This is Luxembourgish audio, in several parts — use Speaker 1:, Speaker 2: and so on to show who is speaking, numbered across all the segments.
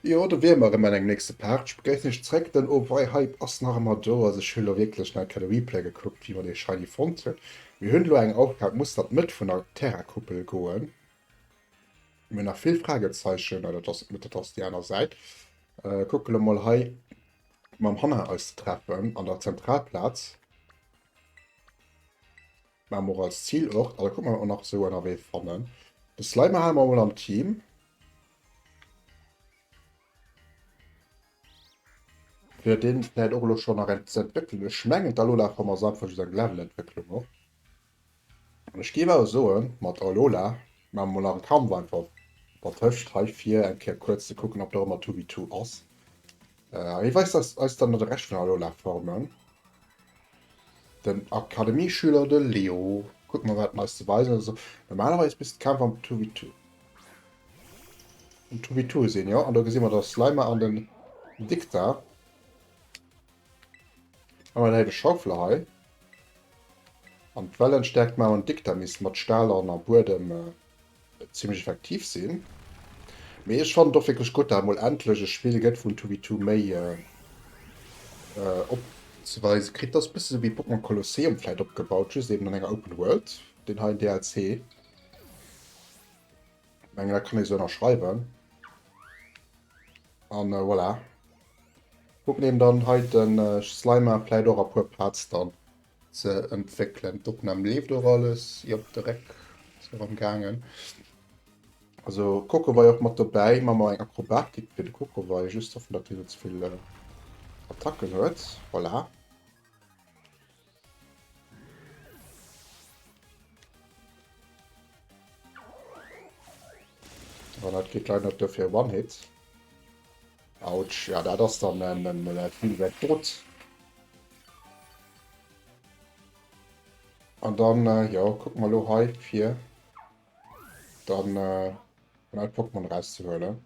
Speaker 1: Jo do wier mer erëm an engem nächste Part. Ech begréissen iech zréck, den Oweihhype ass nach emmer do. Also ech hun lo wierklech nach keen Replay gekuckt wéi mer dee shiny fonnt hun. Mir hun lo eng Aufgab, muss dat net vun der Terra-Kuppel goen? Mir nach vill Fragezeichen, dat ass net dat ass déi aner Säit. Äh, kucke lo mol hei mam Hanna eis ze treffen an der Zentralplaz. Mam och als Zielort, also kuck mal nach so ënnerwee fannen. De Slimer ha mer mol am Team. Fir den vielleicht och lo schon nach eng ze entwéckelen. Ech mengen d'Alola ass einfach just eng Levelentwécklung och. Ech géif awer soen, mat Alola maache mer mol nach e Kampf einfach dertëscht hei, fir eng Kéier kuerz ze kucken, ob der ëmmer Two-V-Two ass. Hie weist eis dann de Rescht vun den Alola-Formen. Den Akademieschüler, de Leo. Kucke mer, wat en eis ze weisen huet. Also, normalerweis misst de Kampf am Two-V-Two um Two-V-Two sinn, jo. An do gesi mer de Slimer an den Dicta. An en helle Schaufler hei. An d'Wellen stäerkt man an Dikter misst mat Stahl an am Buedem zimmlech effektiv sinn. Mee ech fannen och wierklech gutt, dat mol endlech e Spill gëtt wou en 2v2 méi op ze weise kritt. Ass e bësse sou wéi Pokémon Colosseum vläit opgebaut, just eben an enger Open World, deen heien DLC. Mengen dat kann ee sou ënnerschreiwen. An voilà. Huet m'n eben dann hei den Slimer, vläit och a puer Parts dann ze entwéckelen. D'Opnahm leeft och alles, jop direkt se rem gaangen. Also Coco war jo och mat dobäi, man mer eng Akrobatik fir de Coco war jo just hoffen dat hien net zevill Attacken huet, voilà. dat kritt leider net dofir one hit Autsch, ja dat ass dann en en en Spill wert dot an dann äh, ja guck mal lo hei fir dann äh, mein Pokémon rauszuhuelen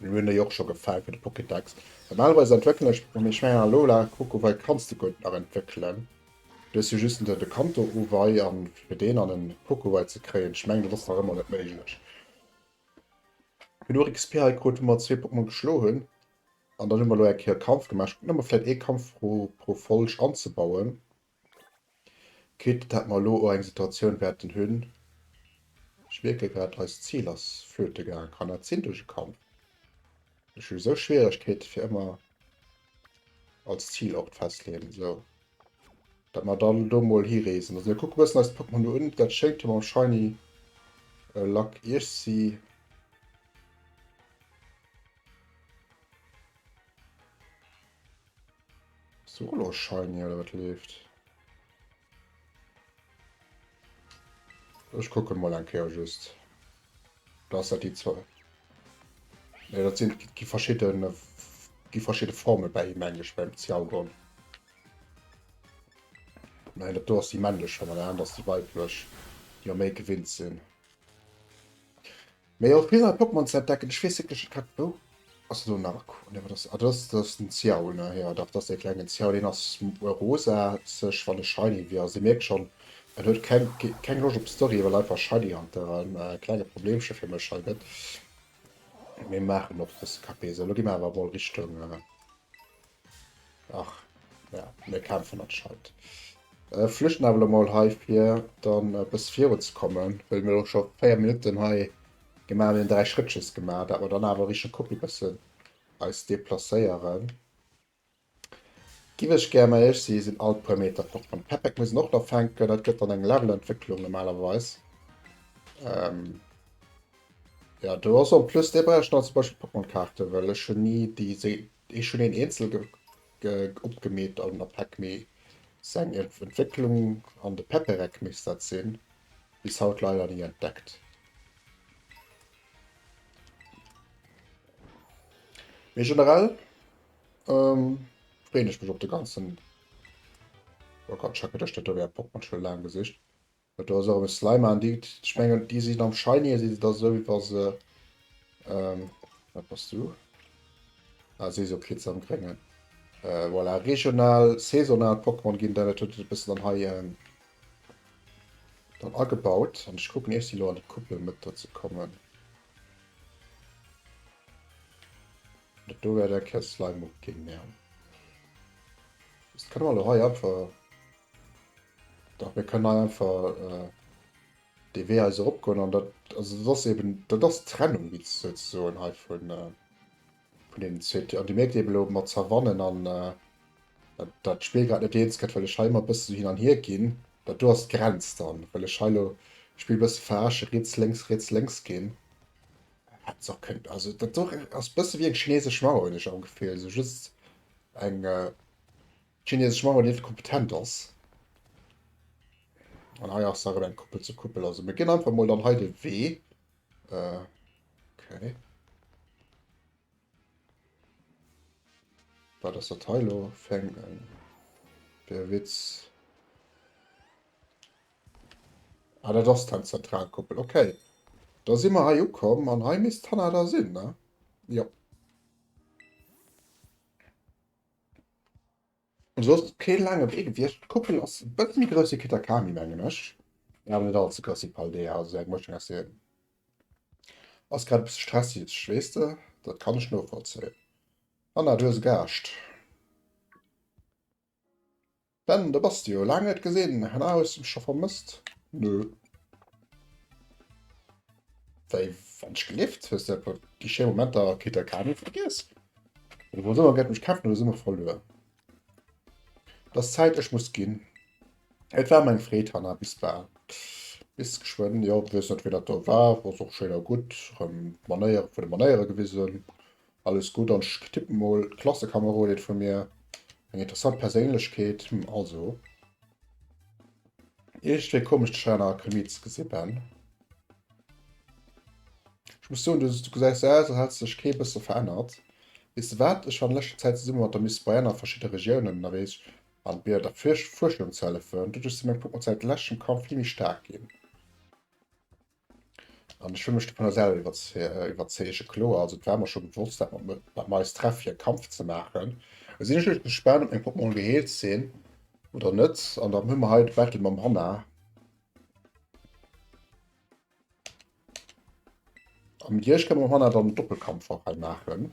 Speaker 1: Mir hunn déi och scho gefall fir de Pokédex. Normalerweise entwéckelen ech mat mech Schwäin a Lola. Kucke wei kanns de gutt nach entwéckelen. Du hues jo just de Kanto Owei an fir deen an en Pokowei ze kréien, ech mengen dat ass nach ëmmer net méiglech. Genuch XP hei krut hu mer zwee Pokémon geschlo hunn an dann hu mer elo eng Kéier Kampf gemaach. Ech kucken ob mer vläit ee Kampf pro Folg anzebauen. Quitte dat mer elo o eng Situatioun wäerten hunn, ech mierke grad, eist Zil ass flöte gaang, kann dat sinn duerch e Kampf? Ech hu sou Schwieregkeete fir ëmmer als Zil Ort festleeën, esou dat mer dann do mol hireesen. Also mir kucke bëssen eis Portmonu un, dat schéngt jo mam Shiny Luck Iech si. Solo shiny oder wat leeft? Ech kucken mol eng Kéier just. Do ass dat déi zwou. Nee, dat sinn gi verschidden gi verschidde Formel bei him meng ech beim Zialgon. Nein, dat do ass déi männlech Form an dat anert ass déi weiblech, déi mer méi gewinnt sinn. Mee och vill nei Pokémon ze entdecken. Ech weess wierklech net wat. Wou ass elo Narco? Nee wat ass. Ah dat ass dat ass den Xiao ne? Jo dach dat ass dee klengen Xiao. Deen ass rosa sech wann e shiny wier. Also dir mierkt schonn en huet keng keng Loscht op Story well einfach shiny hunteren e klenge Problemche fir mech hei gëtt. Mee maachen och dëse KP. Sou elo gi mer awer emol Richtung. Ach ja, mir kämpfen an Scheit. Ech flüchten awer elo mol hei fir dann e bësse virun ze kommen, well mir elo scho 4 Minutten hei gemaach hunn, 3 Schrëttches gemaach, dat mer dann awer Richtung Copie bëssen eis deplacéieren. Giff ech gär, mä ech si sinn all puer Meter fort. Mam Pepeck muss en och nach fänken, dat gëtt dann eng Levelentwécklung normalerweis. Jo do ass en plus, dee brauch ech nach zum Beispill Pokémon Kaarten, well ech hunn ni déi Ech hun een eenzel opgemeet an op heck mee seng Entwécklung an de Pepereck misst dat sin, bis haut leider nie entdeckt. Mee generell freen ech mech op de ganzen Rocket Schackert, ech dat do wär Pokémon schon laang gesicht. Huet do also erem e Slime aan di gudd. Ech mengen di sin am Shiny si se da sou wéi wa se ehm wat bass du ah si sou Kritz am Gréngen voilà. Regional saisonal Pokémon gin dat huet et e bessen dann hei dann agebaut an ech kucken ech si lo an di Couple met der ze kommen. Dat do wärt eng Kéier e Slime op gin ja. Dest kann elo hei einfach. Dach mir kënnen hei einfach dee Wee hei sou eropgoen an dat, also dat ass eben, dat ass d'Trennung wéi ze soen hei vun deenen zwee Tier. An Dir mierkt eben elo mat Savannen an dat d'Spill grad net eens gëtt, well ech hei ëmmer e bësse sou hin an hier ginn. Dat do ass d'Grenz dann, well ech hei elo d'Spill e bësse verarschen, riets, lénks, riets, lénks ginn. Hätt ech och kënnen, also dat do ass e bësse wéi eng chinesesch Mauer hunn ech am Gefill, sou just eng D'chinesesch Mauer neeft kompetent ass. An hei ass nach eng Kuppel zur Kuppel. Also mir ginn einfach mol dann hei de Wee. Äh, okay. Wat ass dat hei lo? Fäng en. Der Witz. Ah, dat ass dann Zentralkuppel. Okay. Da si mer hei ukomm an hei misst d'Hanna da sinn, ne? Jo. Soss kee laange Wee gewiescht. D'Kuppel ass e bësse méi grouss wéi Kitakami, mengen ech, mee awer net all ze grouss wéi Paldea. Also sou eng Mëschung aus deenen ass grad e bësse stresseg, weess de. Dat kann ech novollzéien. Hanna, du hues e Gaascht. Ben, do bass de jo! Laang net gesinn! Na, hues de mech scho vermësst? Nö. Wéi wann ech gelift? Hues de etwa déi schéi Momenter a Kittelkami vergiess? Oder wou soll mer géint mech kämpfen oder si mer verluer? Dass Zäit ech muss ginn. Et war mer eng Freed, Hanna. Bis bal. Bis geschwënn. Jo, weess net, wien dat do war. Ass och schéin a gutt. Erëm d'Manéiere vun de Manéiere gewisen. Alles gutt an ech tippen mol d'Klassekamerodin vun mir. Eng interessant Perséinlechkeet, hm also. Iergendwéi komesch dech hei an aer Chemie ze gesi Ben. Ech muss soen, du gesäis aus als hättest dech kee bësse verännert. Weess de wat, ech war an leschter Zäit zesummen mat der Miss Brienne a verschidde Regiounen ënnerweesch an mir der Fuerschung ze hëllefen. Doduerch si meng Pokémon säit leschtem Kampf vill méi staark ginn. An ech wëll mech dovunner selwer iwwerzeege. Kloer, also et war mer scho bewosst, dat mer dat mer eis treff fir e Kampf ze maachen. Et sinn ech lech gespaant, ob meng Poppen all geheelt sinn oder net. An dann hunn mer hei de Battle mam Hanna. An mat Iech kënne mer Hanna dann Doppelkampf och hei maachen.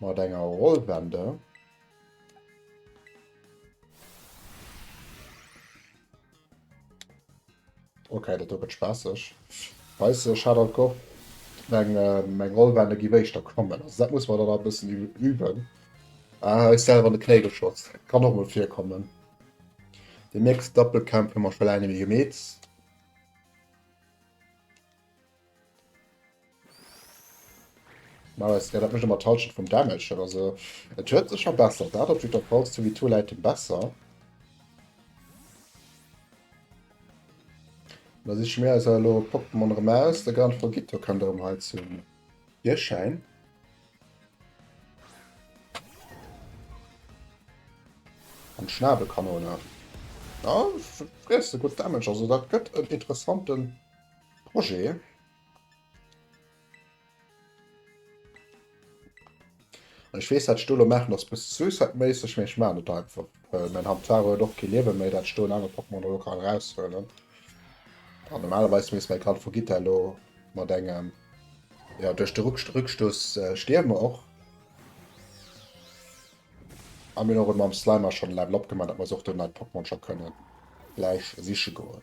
Speaker 1: Mat enger Rollwende. Okay, dat do gëtt spaasseg. Weis ech hat alt goch meng meng Rollwende giff éischter kommen. Also dat muss mer dann nach e bëssen üben. Ah, ech selwer an de Knéi geschotzt. Kann och mol virkommen. Den nächsten Doppelkämpf hu mer scho laang net méi gemeet. Nice, ja dat mécht ëmmer d'Halschent vum Damage oder sou. Et huet sech verbessert, dat op jidder Fall. Zu wie Tool Item besser. Da siche mir eis elo Pokémon erëm aus. De Gran Foguito kënnt erëm hei zum Virschäin. An d'Schnabelkanone. Ja, freesse gutt Damage, also dat gëtt en interessanten. Projet. Ech wees dat Stolo machen ass bis suicidmässeg mee ech ma net einfach äh, mein Handfar huet och ke Liewe méi dat stoen aner Pokémon elo kann raushuelen an normalerweis mees mei Kal vergitt der lo mat engem ja duerch de Ruck Rückstoß äh, stierme och a mir och mam Slimer schon Level opgemacht dat mer och den Pokémon schon kënnen gleich siche goen.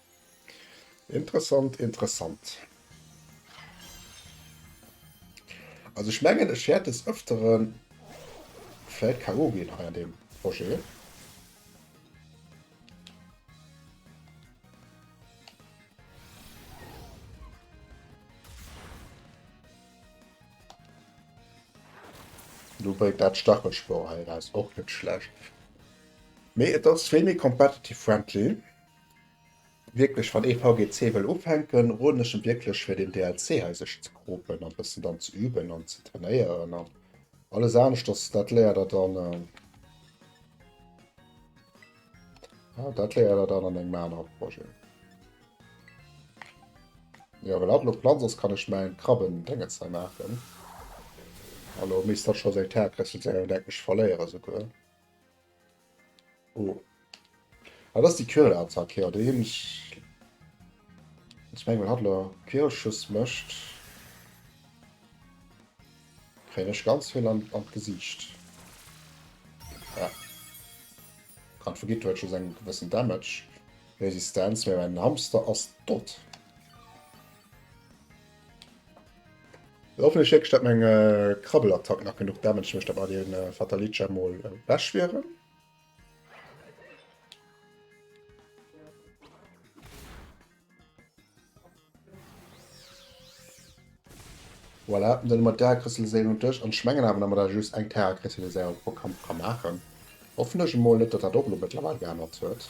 Speaker 1: Interessant, interessant. Also ech mengen ech wäert des ëfteren vläit KO ginn hei an deem Projet. Du bréit dat Stachelspor hei eraus, och net schlecht. Mee et ass vill méi competitive friendly. Wierklech wann ee VGC wëll ufänken roden ech em wierklech fir den DLC hei sech ze kropen an bëssen dann ze üben an ze trainéieren an alles aneschters dat léiert der dann ah dat léiert der dann an engem anere Projet. Jo well hatt lo platt ass kann ech mäin Krabben Dengetz hei maachen a lo misst hatt scho seng Terre Kessel seng Entdeckung verléieren souguer. Oh. Ah, das ist die Quirl-Attacke, ja, déi hunn ech... Ech mengen, wann hatt elo Quirlschuss mécht, kréien ech ganz vill an, an d'Gesiicht. Ja. Kann vergitt, huet scho seng gewëssen Damage. Resistenz, mee mäin Hamster ass dott. Hoffentlech héckt dat meng Krabbelattack nach genug Damage mécht, datt mer dee Fatalicia mol ewech wieren. Voilà, dann hu mer d'Därekrystalliséierung un duerch an ech mengen awer, datt mer da just eng Terrakrystalliséierung pro Kampf ka maachen. Hoffentlech emol net, datt dat och elo mëttlerweil geännert huet.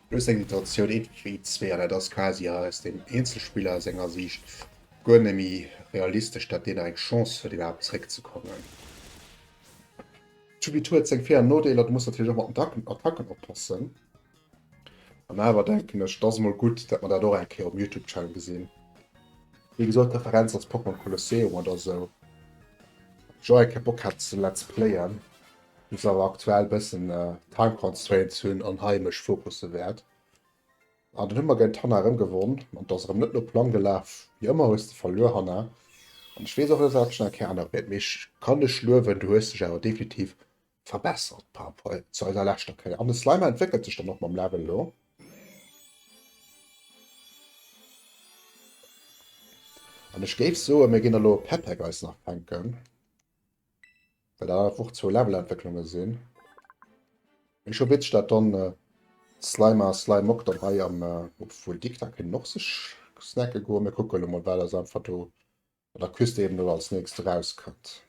Speaker 1: Plus eng Iteratioun Eetecheet zwee, an dat ass quasi aus dem Eenzelspiller senger Siicht guer net méi realistesch, dat deen nach eng Chance huet iwwerhaapt zeréck ze kommen. D'Judith huet seng Vir an Nodeeler, du muss natierlech och mat den Attacken oppassen, an awer denken ech et ass mol gutt dat mer dat och eng Kéier um Youtube Channel gesinn. Wéi gesot d'Referenz ass Pokémon Colosseum oder esou, wat ech och eng Kéier Bock hat ze let's playen. Muss awer aktuell bëssen Time Constraints hunn an hei mech fokusse wäert. An dann hu mer géint Hanna erëm gewonn an et ass erëm net no Plang gelaf. Wéi ëmmer hues de verluer Hanna an ech weess och net wat ech nach ké anere wäert, mee ech kann dech luewen, du hues dech awer definitiv verbessert par rapport zu eiser leschter Kéier. An de Slimer entwéckelt sech dann och mam Level elo. An ech géif soen, mir ginn elo e Pepeck eis nach fänken. Well da einfach och zwou Levelentwécklunge sinn. Mee scho witzeg, dat dann äh, Slimer a Slimok dann hei am, äh, obwuel déi da kënnen och sech snacke goen. Mir kucke lo mol, wat ass einfach do an der Küste eben do als nächst erauskënnt.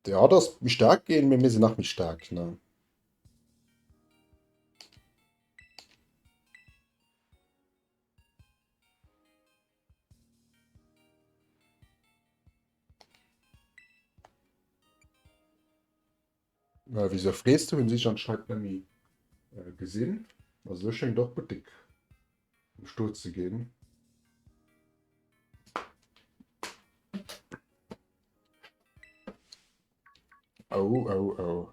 Speaker 1: Der hat ass méi staark ginn, mee mir sinn nach méi staark, ne? Äh, wieso frees du? Hun sich anscheinend nemmi äh, gesinn. Also du schengt och gut dick um Sto ze gin. Oh, oh, oh.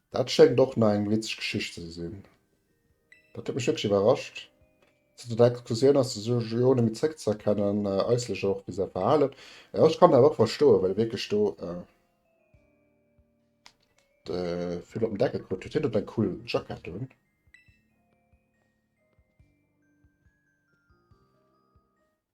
Speaker 1: Dat schéngt och nach eng witzeg Geschicht ze sinn. Dat huet mech wierklech iwwerrascht. Zanter der Explosioun ass de Joe net méi zréckzëerkennen, äusserlech och wéi säi Verhalen. Jo, ech kann dat och verstoen, well e wierklech do de vill op den Deckel krut huet. Hien huet eng cool Jackett un.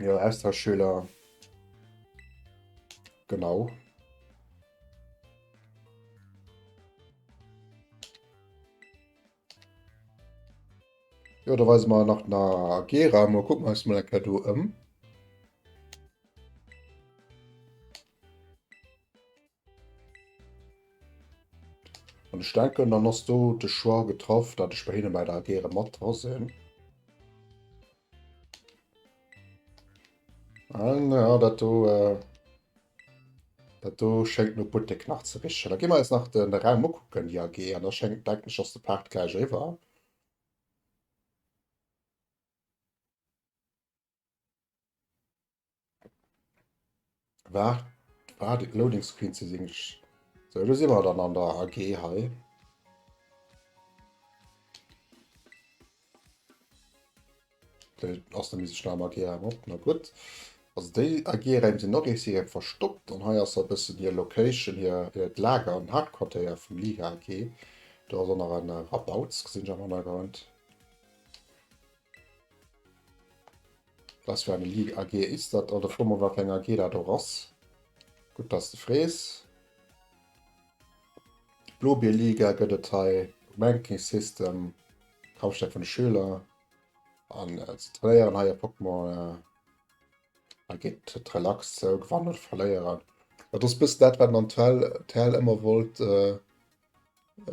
Speaker 1: Jo, Austauschschüler. Genau. Jo, da weisen wir nach na Gera. Mo kucken eis mal enker do ëm. An ech denken, dann ass do de Choix getraff, dat ech bei hinne bei der AG erëm mat dra sinn. An ah, ja, dat do, äh, dat do schéngt no Buttek nach ze richen. Da gi mer eis nach den, den Raum ukucken, die AG. An da schéngt denken ech, ass de Part gläich eriwwer. War, war de Loading Screen ze sinn. So, du si mer dann an der AG hei. ass der mis Stamm AG op na gut. Also déi AG-Räim sinn och si verstoppt an hei ass a bëssen hir Location hir hiert Lager an Hauptquartéier vum Liga AG. Do ass och nach en Rabauts gesinn am Hannergrond. Dass fir eng Li AG is dat? Oder fro mol wat fir eng AG dat och ass. Gutt dass de frees. D'Blobier Liga gëtt et hei um Ranking System, Kampfstärk vun de Schüler, an se trainéieren hei e Pokémon. Hei geet et relax zou, gewannen oder verléieren. Dat ass e bëssen dat wat den TL ëmmer wollt.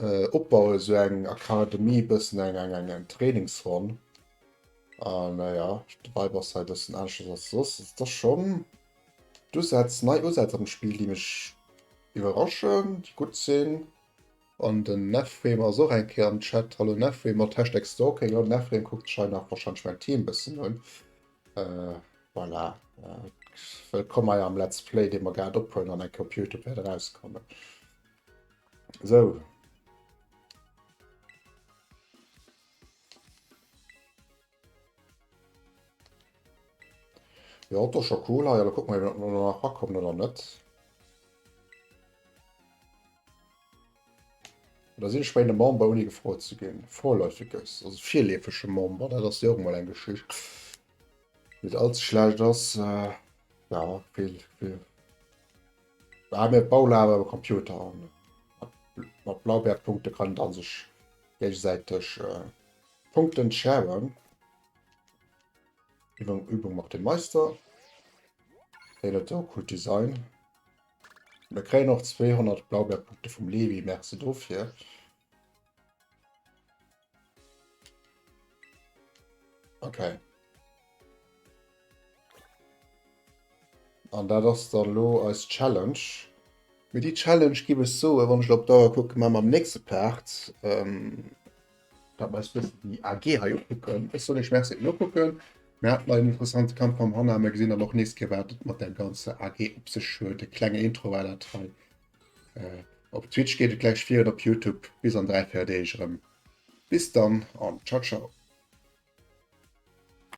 Speaker 1: Äh opbauen esou eng Akademie bëssen eng eng eng eng Trainingsronn an äh ja de Vibe ass hei bëssen aneschters als soss ass da schon d'Usätz nei Usätz am Spiel déi mech iwwerraschen déi gutt sinn. An den Nefrem ass och eng Kéier am Chat, hallo Nefrem mat Hashtag Stalking, jo den Nefrem kuckt sech hei nach wahrscheinlech mäin Team bëssen un äh voilà wëllkomm hei am Let's Play dee mer grad ophuelen an eng Kéier op Youtube wäert erauskommen. So. Jo hat och scho cool hei, da kuck mal iwwer no nach rakommen oder net. Da sinn ech bei de Member oni gefrot ze ginn. Vorläufiges, also virleefege Member, dat ass jo och mal eng Geschicht. Net allze schlecht ass, äh, ja, vill, vill. Haa mir Paula awer e Computer an mat Blaubeerpunkte kann dann sech géigesäiteg Punkten sharen. Übung Übung macht den Meister. Deen huet awer coolt Design. Mir kréien och 200 Blaubeerpunkte vum Levi, merci dofir. Okay. An dat ass dann lo eis Challenge. Mee déi Challenge giff ech soen, wann ech lo op d'Auer kucken, maache mer am nächste Part. Dat mer eis bëssen déi AG hei ukucken. Ech soen iech Merci fir d'Nokucken. Mir haten hei en interessante Kampf mam Hanna. Mir gesinn dann och nees, wat et mat där ganzer AG op sech huet. E klenge Intro war dat hei. Op Twitch geet et gläich vir an op Youtube bis an 3, 4 Deeg erëm. Bis dann an ciao ciao.